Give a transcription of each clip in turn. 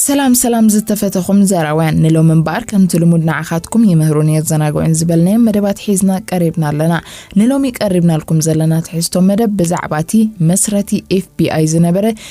ሰላም ሰላም ዝተፈተኹም ዘራውያን ንሎም እምበኣር ከምቲ ልሙድ ንዓኻትኩም ይምህሩን የዘናግዑን ዝበልናዮ መደባት ሒዝና ቀሪብና ኣለና ንሎሚ ቀሪብናልኩም ዘለና ትሕዝቶ መደብ ብዛዕባ እቲ መስረቲ ኤፍቢኣይ ዝነበረ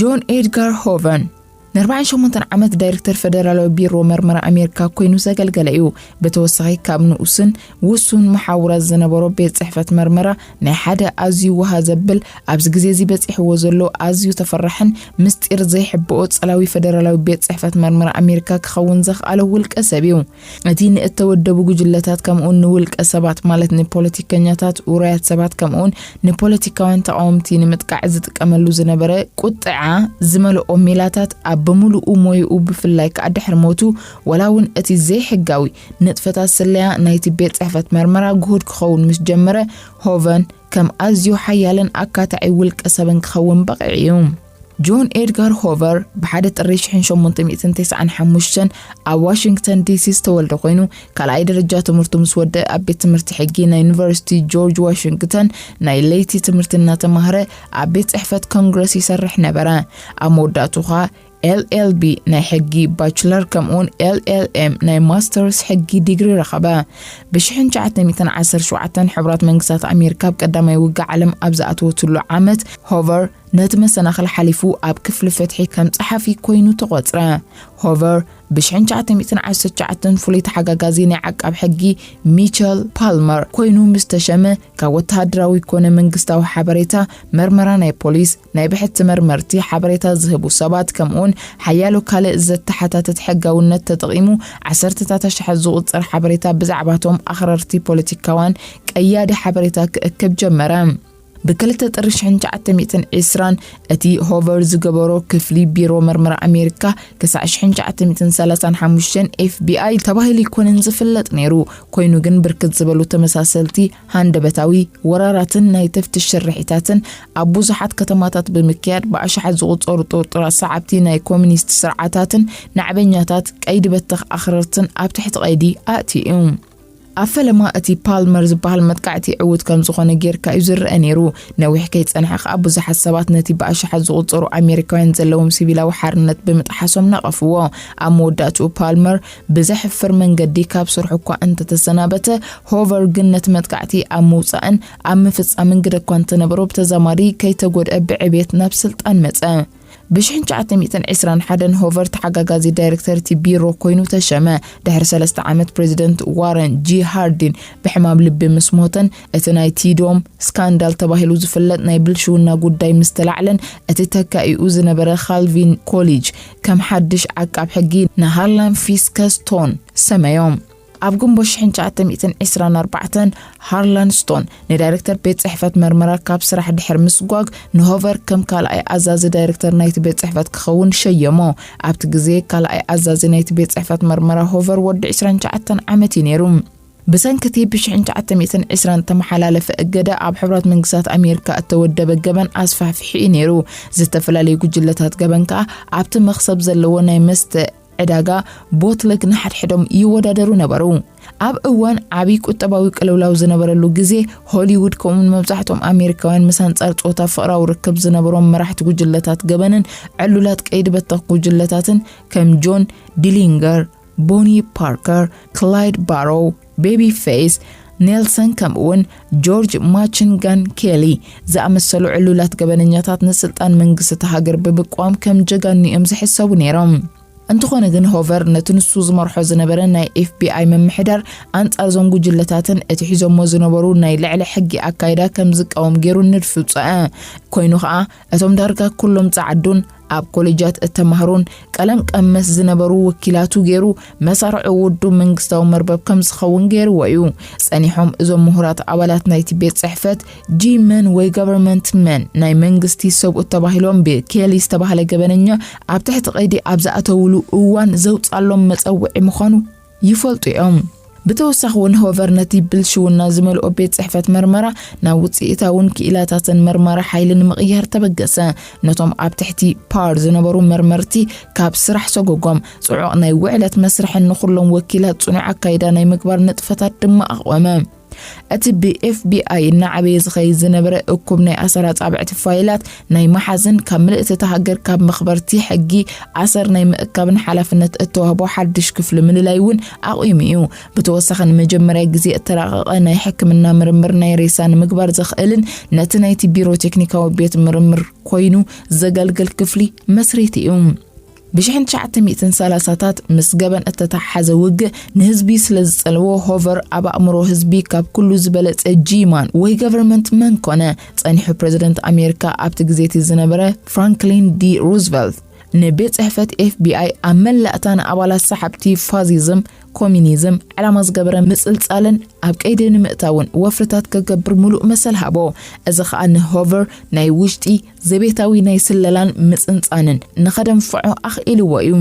ጆን ኤድጋር ሆቨን ን48 ዓመት ዳይረክተር ፈደራላዊ ቢሮ መርመራ ኣሜሪካ ኮይኑ ዘገልገለ እዩ ብተወሳኺ ካብ ንኡስን ውሱን መሓውራት ዝነበሮ ቤት ፅሕፈት መርመራ ናይ ሓደ ኣዝዩ ውሃ ዘብል ኣብዚ ግዜ እዚ በፂሕዎ ዘሎ ኣዝዩ ተፈራሕን ምስጢር ዘይሕብኦ ፀላዊ ፈደራላዊ ቤት ፅሕፈት መርመራ ኣሜሪካ ክኸውን ዘኽኣለ ውልቀ ሰብ እዩ እቲ ንእተወደቡ ጕጅለታት ከምኡውን ንውልቀ ሰባት ማለት ንፖለቲከኛታት፣ ውሩያት ሰባት ከምኡውን ንፖለቲካውያን ተቓወምቲ ንምጥቃዕ ዝጥቀመሉ ዝነበረ ቍጥዓ ዝመልኦ ሜላታት ኣብ ብምሉኡ ሞይኡ ብፍላይ ከኣ ድሕሪ ሞቱ ዋላ እውን እቲ ዘይሕጋዊ ንጥፈታት ስለያ ናይቲ ቤት ጽሕፈት መርመራ ግሁድ ክኸውን ምስ ጀመረ ሆቨን ከም ኣዝዩ ሓያልን ኣካታዒ ውልቀ ሰብን ክኸውን በቒዑ ኢዩ። ጆን ኤድጋር ሆቨር ብሓደ ጥሪ 1895 ኣብ ዋሽንግተን ዲሲ ዝተወልደ ኮይኑ ካልኣይ ደረጃ ትምህርቱ ምስ ወደ ኣብ ቤት ትምህርቲ ሕጊ ናይ ዩኒቨርሲቲ ጆርጅ ዋሽንግተን ናይ ለይቲ ትምህርቲ እናተማህረ ኣብ ቤት ጽሕፈት ኮንግረስ ይሰርሕ ነበረ ኣብ መወዳእቱ ኸኣ ኤልኤልቢ ናይ ሕጊ ባችለር ከምኡውን ኤልኤልኤም ናይ ማስተርስ ሕጊ ዲግሪ ረኸበ ብ1917 ሕቡራት መንግስታት ኣሜሪካ ኣብ ቀዳማይ ውግእ ዓለም ኣብ ዝኣተወትሉ ዓመት ሆቨር ነቲ መሰናኽል ሓሊፉ ኣብ ክፍሊ ፍትሒ ከም ጸሓፊ ኮይኑ ተቖጽረ። ሆቨር ብ ሽሕን ትሽዓተ ሚእትን ዓሰርተ ትሽዓተን ፍሉይ ተሓጋጋዚ ናይ ዓቃብ ሕጊ ሚቸል ፓልመር ኮይኑ ምስ ተሸመ ካብ ወተሃደራዊ ኮነ መንግስታዊ ሓበሬታ፣ መርመራ ናይ ፖሊስ፣ ናይ ብሕቲ መርመርቲ፣ ሓበሬታ ዝህቡ ሰባት ከምኡውን ሓያሎ ካልእ ዘተሓታትት ሕጋውነት ተጠቒሙ ዓሰርተታት ኣሽሓት ዝቑጸር ሓበሬታ ብዛዕባቶም ኣኽረርቲ ፖለቲካውያን ቀያዲ ሓበሬታ ክእክብ ጀመረ። ብክልተ ጥሪ ሽሕን ትሽዓተ ሚእትን ዒስራን እቲ ሆቨር ዝገበሮ ክፍሊ ቢሮ መርመራ ኣሜሪካ ክሳዕ ሽሕን ትሽዓተ ሚእትን ሰላሳን ሓሙሽተን ኤፍቢኣይ ተባሂሉ ኣይኮነን ዝፍለጥ ነይሩ። ኮይኑ ግን ብርክት ዝበሉ ተመሳሰልቲ ሃንደበታዊ ወራራትን ናይ ተፍትሽ ስርሒታትን ኣብ ብዙሓት ከተማታት ብምክያድ ብኣሽሓት ዝቑጸሩ ጥርጡራት ሰዓብቲ ናይ ኮሚኒስት ስርዓታትን ናዕበኛታት ቀይዲ በተኽ ኣኽረርትን ኣብ ትሕቲ ቀይዲ ኣእትዩ እዩ። ኣብ ፈለማ እቲ ፓልመር ዝበሃል መጥቃዕቲ ዕዉት ከም ዝኾነ ጌርካ እዩ ዝረአ ነይሩ። ነዊሕ ከይጸንሐ ከኣ ብዙሓት ሰባት ነቲ ብኣሽሓት ዝቑጸሩ ኣሜሪካውያን ዘለዎም ሲቪላዊ ሓርነት ብምጥሓሶም ነቐፍዎ። ኣብ መወዳእትኡ ፓልመር ብዘሕፍር መንገዲ ካብ ስርሑ እኳ እንተተሰናበተ፣ ሆቨር ግን ነቲ መጥቃዕቲ ኣብ ምውጻእን ኣብ ምፍጻምን ግደ እኳ እንተነበሮ ብተዛማዲ ከይተጎድኣ ብዕብየት ናብ ስልጣን መጸ። ብሽሕን ትሽዓተ ሚእትን ዕስራን ሓደን ሆቨር ተሓጋጋዚ ዳይረክተር እቲ ቢሮ ኮይኑ ተሸመ። ድሕሪ ሰለስተ ዓመት ፕሬዚደንት ዋረን ጂ ሃርዲን ብሕማም ልቢ ምስ ሞተን እቲ ናይ ቲዶም ስካንዳል ተባሂሉ ዝፍለጥ ናይ ብልሽውና ጉዳይ ምስ ተላዕለን እቲ ተካኢኡ ዝነበረ ካልቪን ኮሊጅ ከም ሓድሽ ዓቃብ ሕጊ ንሃርላን ፊስከስቶን ሰመዮም። ኣብ ግንቦት ሽሕን ትሽዓተ ሚእትን ዒስራን ኣርባዕተን ሃርላን ስቶን ንዳይረክተር ቤት ጽሕፈት መርመራ ካብ ስራሕ ድሕሪ ምስጓግ ንሆቨር ከም ካልኣይ ኣዛዚ ዳይረክተር ናይቲ ቤት ጽሕፈት ክኸውን ሸየሞ። ኣብቲ ግዜ ካልኣይ ኣዛዚ ናይቲ ቤት ጽሕፈት መርመራ ሆቨር ወዲ ዕስራን ትሽዓተን ዓመት እዩ ነይሩ። ብሰንኪ እቲ ብሽሕን ትሽዓተ ሚእትን ዒስራን እተመሓላለፈ እገዳ ኣብ ሕቡራት መንግስታት ኣሜሪካ እተወደበ ገበን ኣስፋሕፊሑ እዩ ነይሩ። ዝተፈላለዩ ጉጅለታት ገበን ከኣ ኣብቲ መኽሰብ ዘለዎ ናይ መስተ ዕዳጋ ቦትለግ ንሓድሕዶም ይወዳደሩ ነበሩ። ኣብ እዋን ዓብዪ ቁጠባዊ ቅልውላው ዝነበረሉ ግዜ፣ ሆሊውድ ከምኡውን መብዛሕትኦም ኣሜሪካውያን ምስ ኣንጻር ጾታ ፍቕራዊ ርክብ ዝነበሮም መራሕቲ ጉጅለታት ገበንን ዕሉላት ቀይዲ በተኽ ጉጅለታትን ከም ጆን ዲሊንገር፣ ቦኒ ፓርከር፣ ክላይድ ባሮው፣ ቤቢ ፌይስ፣ ኔልሰን ከምኡ'ውን ጆርጅ ማችን ጋን ኬሊ ዝኣመሰሉ ዕሉላት ገበነኛታት ንስልጣን መንግስቲ እታ ሃገር ብምቅዋም ከም ጀጋኑ እዮም ዝሕሰቡ ነይሮም። እንተኾነ ግን ሆቨር ነቲ ንሱ ዝመርሖ ዝነበረ ናይ ኤፍቢኣይ ምምሕዳር ኣንጻር እዞም ጉጅለታትን እቲ ሒዞሞ ዝነበሩ ናይ ልዕሊ ሕጊ ኣካይዳ ከም ዝቃወም ገይሩ ንድፊ ውጸኣ። ኮይኑ ከኣ እቶም ዳርጋ ኩሎም ጸዓዱን ኣብ ኮሌጃት እተማህሩን ቀለም ቀመስ ዝነበሩ ወኪላቱ ገይሩ መሳርዑ ውዱብ መንግስታዊ መርበብ ከም ዝኸውን ገይርዎ እዩ። ጸኒሖም እዞም ምሁራት ኣባላት ናይቲ ቤት ጽሕፈት ጂ መን ወይ ገቨርንመንት መን ናይ መንግስቲ ሰብኡት ተባሂሎም ብኬሊ ዝተባህለ ገበነኛ ኣብ ትሕቲ ቀይዲ ኣብ ዝኣተውሉ እዋን ዘውጻሎም መጸውዒ ምዃኑ ይፈልጡ እዮም። ብተወሳኺ እውን ሆቨር ነቲ ብልሽውና ዝመልኦ ቤት ጽሕፈት መርመራ ናብ ውጽኢታውን ክኢላታትን መርማሪ ሓይሊ ንምቕያር ተበገሰ። ነቶም ኣብ ትሕቲ ፓር ዝነበሩ መርመርቲ ካብ ስራሕ ሰጎጎም። ጽዑቕ ናይ ውዕለት መስርሕን ንኹሎም ወኪላት ጽኑዕ ኣካይዳ ናይ ምግባር ንጥፈታት ድማ ኣቕወመ። እቲ ብኤፍቢኣይ እናዓበየ ዝኸይድ ዝነበረ እኩብ ናይ ኣሰር ኣጻብዕቲ ፋይላት ናይ መሓዝን ካብ ምልእቲ እታ ሃገር ካብ መኽበርቲ ሕጊ ኣሰር ናይ ምእካብን ሓላፍነት እተዋህቦ ሓድሽ ክፍሊ ምልላይ እውን ኣቑሙ እዩ። ብተወሳኺ ንመጀመርያ ግዜ እተራቐቐ ናይ ሕክምና ምርምር ናይ ሬሳ ንምግባር ዘኽእልን ነቲ ናይቲ ቢሮ ቴክኒካዊ ቤት ምርምር ኮይኑ ዘገልግል ክፍሊ መስሪቱ እዩ። ብሽሕን ትሽዓተ ሚእትን ሰላሳታት ምስ ገበን እተተሓሓዘ ውግእ ንህዝቢ ስለ ዝጸለዎ ሆቨር ኣብ ኣእምሮ ህዝቢ ካብ ኩሉ ዝበለጸ ጂማን ወይ ገቨርመንት መን ኮነ? ጸኒሑ ፕረዚደንት ኣሜሪካ ኣብቲ ግዜቲ ዝነበረ ፍራንክሊን ዲ ሩዝቨልት ንቤት ጽሕፈት ኤፍቢኣይ ኣብ መላእታ ንኣባላት ሰሓብቲ ፋዚዝም ኮሚኒዝም ዕላማ ዝገበረ ምጽልጻልን ኣብ ቀይዲ ንምእታውን ወፍርታት ከገብር ምሉእ መሰል ሃቦ። እዚ ኸኣ ንሆቨር ናይ ውሽጢ ዘቤታዊ ናይ ስለላን ምጽንጻንን ንኸደንፍዖ ኣኽኢልዎ እዩ።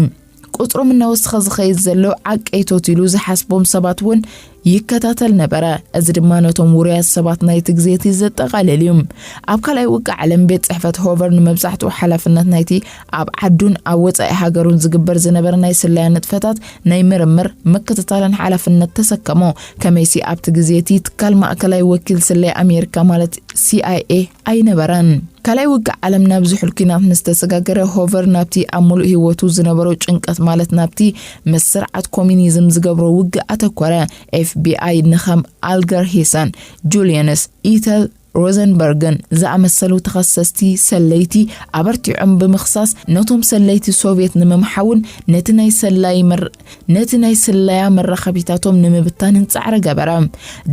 ቁጽሮም እናወስኸ ዝኸይድ ዘሎ ዓቀይቶት ኢሉ ዝሓስቦም ሰባት እውን ይከታተል ነበረ። እዚ ድማ ነቶም ውሩያት ሰባት ናይቲ ግዜ እቲ ዘጠቓልል እዩ። ኣብ ካልኣይ ውግእ ዓለም ቤት ጽሕፈት ሆቨር ንመብዛሕትኡ ሓላፍነት ናይቲ ኣብ ዓዱን ኣብ ወጻኢ ሃገሩን ዝግበር ዝነበረ ናይ ስለያ ንጥፈታት ናይ ምርምር፣ ምክትታልን ሓላፍነት ተሰከሞ። ከመይሲ ኣብቲ ግዜ እቲ ትካል ማእከላይ ወኪል ስለያ ኣሜሪካ ማለት ሲኣይኤ፣ ኣይነበረን። ካልኣይ ውግእ ዓለም ናብ ዝሑል ኲናት ምስ ተሰጋገረ፣ ሆቨር ናብቲ ኣብ ምሉእ ህይወቱ ዝነበሮ ጭንቀት ማለት ናብቲ ምስ ስርዓት ኮሚኒዝም ዝገብሮ ውግእ ኣተኮረ። ኤፍቢኣይ ንከም ኣልገር ሂሰን፣ ጁልየንስ ኢተል ሮዘንበርግን ዝኣመሰሉ ተኸሰስቲ ሰለይቲ ኣበርቲዖም ብምኽሳስ ነቶም ሰለይቲ ሶቭየት ንምምሓውን ነቲ ናይ ሰላይ ነቲ ናይ ስለያ መራኸቢታቶም ንምብታንን ጻዕሪ ገበረ።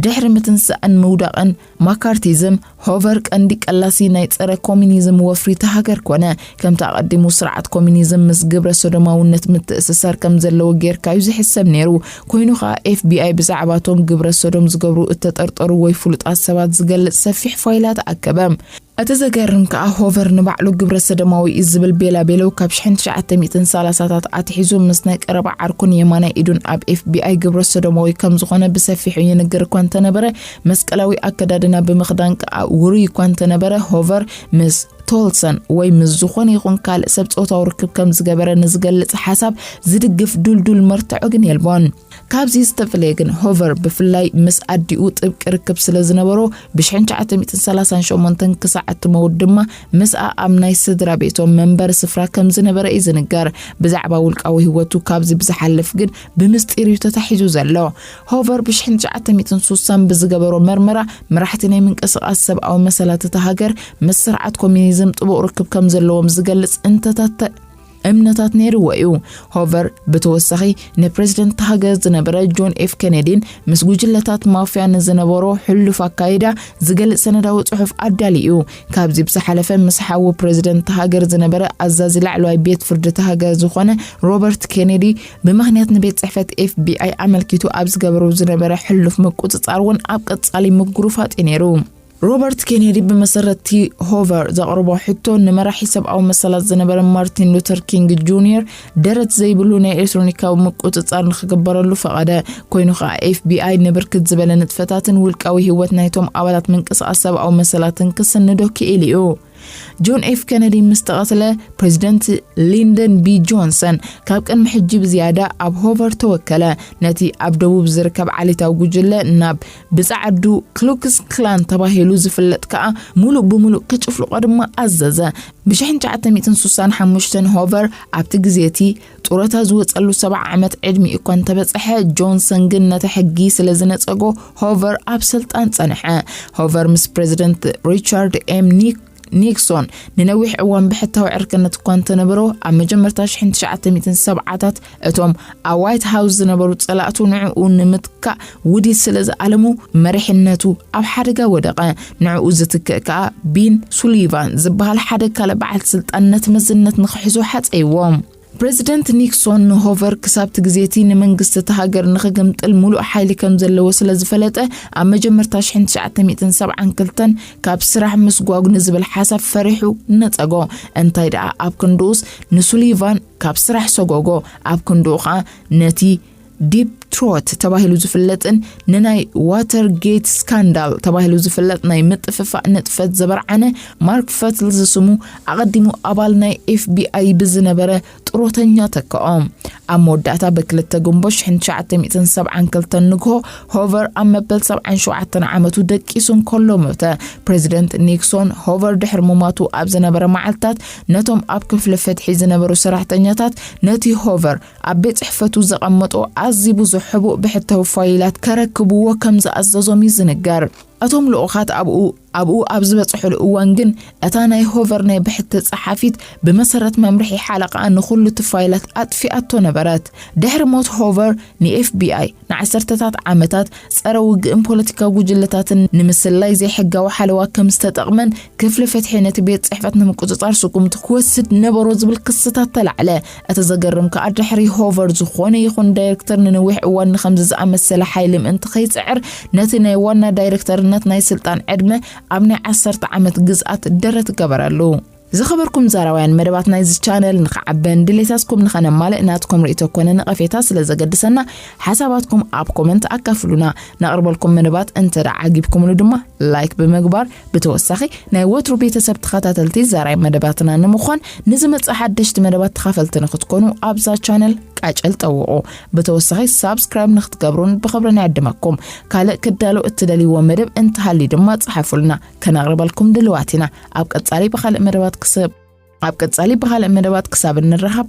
ድሕሪ ምትንሳእን ምውዳቕን ማካርቲዝም፣ ሆቨር ቀንዲ ቀላሲ ናይ ጸረ ኮሚኒዝም ወፍሪ እታ ሃገር ኮነ። ከምቲ ኣቐዲሙ ስርዓት ኮሚኒዝም ምስ ግብረ ሶዶማውነት ምትእስሳር ከም ዘለዎ ጌርካ እዩ ዝሕሰብ ነይሩ። ኮይኑ ከኣ ኤፍቢኣይ ብዛዕባቶም ግብረ ሶዶም ዝገብሩ እተጠርጠሩ ወይ ፍሉጣት ሰባት ዝገልጽ ሰፊሕ ፋይላት ኣከበ። እቲ ዘገርም ከኣ ሆቨር ንባዕሉ ግብረ ሰዶማዊ እዩ ዝብል ቤላቤለው ካብ ሽሕን ትሽዓተ ሚእትን ሰላሳታት ኣትሒዙ ምስ ናይ ቀረባ ዓርኩን የማናይ ኢዱን ኣብ ኤፍቢኣይ ግብረ ሰዶማዊ ከም ዝኾነ ብሰፊሑ ይንገር እኳ እንተነበረ መስቀላዊ ኣከዳድና ብምኽዳን ከኣ ውሩይ እኳ እንተነበረ ሆቨር ምስ ቶልሰን ወይ ምስ ዝኾነ ይኹን ካልእ ሰብ ጾታዊ ርክብ ከም ዝገበረ ንዝገልጽ ሓሳብ ዝድግፍ ዱልዱል መርትዖ ግን የልቦን። ካብዚ ዝተፈለየ ግን ሆቨር ብፍላይ ምስ ኣዲኡ ጥብቂ ርክብ ስለ ዝነበሮ ብ1938 ክሳዕ እትመውት ድማ ምስኣ ኣብ ናይ ስድራ ቤቶም መንበሪ ስፍራ ከም ዝነበረ እዩ ዝንገር። ብዛዕባ ውልቃዊ ህይወቱ ካብዚ ብዝሓልፍ ግን ብምስጢር እዩ ተታሒዙ ዘሎ። ሆቨር ብ1960 ብዝገበሮ መርመራ መራሕቲ ናይ ምንቅስቓስ ሰብኣዊ መሰላት እታ ሃገር ምስ ስርዓት ኮሚኒዝም ጥቡቕ ርክብ ከም ዘለዎም ዝገልጽ እንተታት እምነታት ነይርዎ እዩ። ሆቨር ብተወሳኺ ንፕረዚደንት እታ ሃገር ዝነበረ ጆን ኤፍ ኬነዲን ምስ ጉጅለታት ማፍያ ንዝነበሮ ሕሉፍ ኣካይዳ ዝገልጽ ሰነዳዊ ጽሑፍ ኣዳልዩ እዩ። ካብዚ ብዝሓለፈ ምስ ሓዊ ፕረዚደንት እታ ሃገር ዝነበረ ኣዛዚ ላዕለዋይ ቤት ፍርዲ እታ ሃገር ዝኾነ ሮበርት ኬነዲ ብምኽንያት ንቤት ጽሕፈት ኤፍቢኣይ ኣመልኪቱ ኣብ ዝገበሮ ዝነበረ ሕሉፍ ምቁጽጻር እውን ኣብ ቀጻሊ ምጉርፋጥ እዩ ነይሩ። ሮበርት ኬኔዲ ብመሰረትቲ ሆቨር ዘቕርቦ ሕቶ ንመራሒ ሰብኣዊ መሰላት ዝነበረ ማርቲን ሉተር ኪንግ ጁኒየር ደረት ዘይብሉ ናይ ኤሌክትሮኒካዊ ምቁፅፃር ንክግበረሉ ፈቐደ። ኮይኑ ከዓ ኤፍቢኣይ ንብርክት ዝበለ ንጥፈታትን ውልቃዊ ህይወት ናይቶም ኣባላት ምንቅስቓስ ሰብኣዊ መሰላትን ክስንዶ ክኢሉ እዩ። ጆን ኤፍ ከነዲ ምስ ተቐትለ ፕሬዚደንት ሊንደን ቢ ጆንሰን ካብ ቅድሚ ሕጂ ብዝያዳ ኣብ ሆቨር ተወከለ ነቲ ኣብ ደቡብ ዝርከብ ዓሌታዊ ጉጅለ ናብ ብጻዕዱ ክሉክስ ክላን ተባሂሉ ዝፍለጥ ከኣ ሙሉእ ብምሉእ ክጭፍልቆ ድማ ኣዘዘ ብ1965 ሆቨር ኣብቲ ግዜ እቲ ጡረታ ዝወጸሉ ሰብዓ ዓመት ዕድሚኡ እኳ እንተበጸሐ፣ ጆንሰን ግን ነቲ ሕጊ ስለ ዝነጸጎ ሆቨር ኣብ ስልጣን ጸንሐ። ሆቨር ምስ ፕረዚደንት ሪቻርድ ኤም ኒክ ኒክሶን ንነዊሕ እዋን ብሕታዊ ዕርክነት እኳ እንተነበሮ ኣብ መጀመርታ 1970ታት እቶም ኣብ ዋይት ሃውስ ዝነበሩ ጸላእቱ ንዕኡ ንምትካእ ውዲት ስለ ዝኣለሙ መሪሕነቱ ኣብ ሓደጋ ወደቐ። ንዕኡ ዝትክእ ከኣ ቢን ሱሊቫን ዝበሃል ሓደ ካልእ በዓል ስልጣን ነቲ መዝነት ንኽሕዞ ሓጸይዎ። ፕረዚደንት ኒክሶን ንሆቨር ክሳብ'ቲ ግዜ'ቲ ንመንግስቲ እታ ሃገር ንኽግምጥል ምሉእ ሓይሊ ከም ዘለዎ ስለ ዝፈለጠ ኣብ መጀመርታ ሽሕን ትሽዓተ ሚእትን ሰብዓን ክልተን ካብ ስራሕ ምስጓጕ ንዝብል ሓሳብ ፈሪሑ ነጸጎ። እንታይ ደኣ ኣብ ክንድኡስ ንሱሊቫን ካብ ስራሕ ሰጐጎ፣ ኣብ ክንድኡ ከኣ ነቲ ዲፕ ትሮት ተባሂሉ ዝፍለጥን ንናይ ዋተር ጌት ስካንዳል ተባሂሉ ዝፍለጥ ናይ ምጥፍፋእ ንጥፈት ዘበርዓነ ማርክ ፈትል ዝስሙ ኣቐዲሙ ኣባል ናይ ኤፍቢኣይ ብዝነበረ ጥሮተኛ ተክኦ ኣብ መወዳእታ ብክልተ ጉንቦ 1972 ንግሆ ሆቨር ኣብ መበል 77 ዓመቱ ደቂሱ እንከሎ ሞተ ፕሬዚደንት ኒክሶን ሆቨር ድሕሪ ምሟቱ ኣብ ዝነበረ መዓልትታት ነቶም ኣብ ክፍሊ ፍትሒ ዝነበሩ ሰራሕተኛታት ነቲ ሆቨር ኣብ ቤት ጽሕፈቱ ዘቐመጦ ኣዝዩ ብዙሕ ሕቡእ ብሕታዊ ፋይላት ከረክብዎ ከም ዝኣዘዞም እዩ ዝንገር። እቶም ልኡኻት ኣብኡ ኣብኡ ኣብ ዝበጽሑሉ እዋን ግን እታ ናይ ሆቨር ናይ ብሕቲ ጸሓፊት ብመሰረት መምርሒ ሓለቓኣ ንዅሉ እቲ ፋይላት ኣጥፊኣቶ ነበረት። ድሕሪ ሞት ሆቨር ንኤፍቢኣይ ንዓሰርተታት ዓመታት ጸረ ውግእን ፖለቲካዊ ጉጅለታትን ንምስላይ ዘይሕጋዊ ሓለዋ ከም ዝተጠቕመን ክፍሊ ፍትሒ ነቲ ቤት ጽሕፈት ንምቁጽጻር ስጉምቲ ክወስድ ነበሮ ዝብል ክስታት ተላዕለ። እቲ ዘገርም ከኣ ድሕሪ ሆቨር ዝኾነ ይኹን ዳይረክተር ንነዊሕ እዋን ንኸምዚ ዝኣመሰለ ሓይሊ ምእንቲ ከይጽዕር ነቲ ናይ ዋና ዳይረክተርነት ናይ ስልጣን ዕድመ ኣብ ናይ ዓሰርተ ዓመት ግዝኣት ደረት ገበረሉ። ዝኸበርኩም ዛራውያን መደባት ናይዚ ቻነል ንኽዓበን ድሌታትኩም ንኸነማልእ ናትኩም ርእቶ ኮነ ነቐፌታ ስለ ዘገድሰና ሓሳባትኩም ኣብ ኮመንት ኣካፍሉና። ነቕርበልኩም መደባት እንተ ዓጊብኩምሉ ድማ ላይክ ብምግባር ብተወሳኺ ናይ ወትሩ ቤተሰብ ተኸታተልቲ ዘራይ መደባትና ንምዃን ንዝመጽእ ሓደሽቲ መደባት ተኻፈልቲ ንክትኮኑ ኣብዛ ቻነል ቃጨል ጠውቑ ብተወሳኺ ሳብስክራይብ ንክትገብሩን ብኽብሪ ንዕድመኩም ካልእ ክዳሎ እትደልይዎ መደብ እንተሃልዩ ድማ ጽሓፉልና ከነቕርበልኩም ድልዋት ኢና ኣብ ቀጻሊ ብካልእ መደባት ክስብ ኣብ ቀጻሊ ብካልእ መደባት ክሳብ እንረኸብ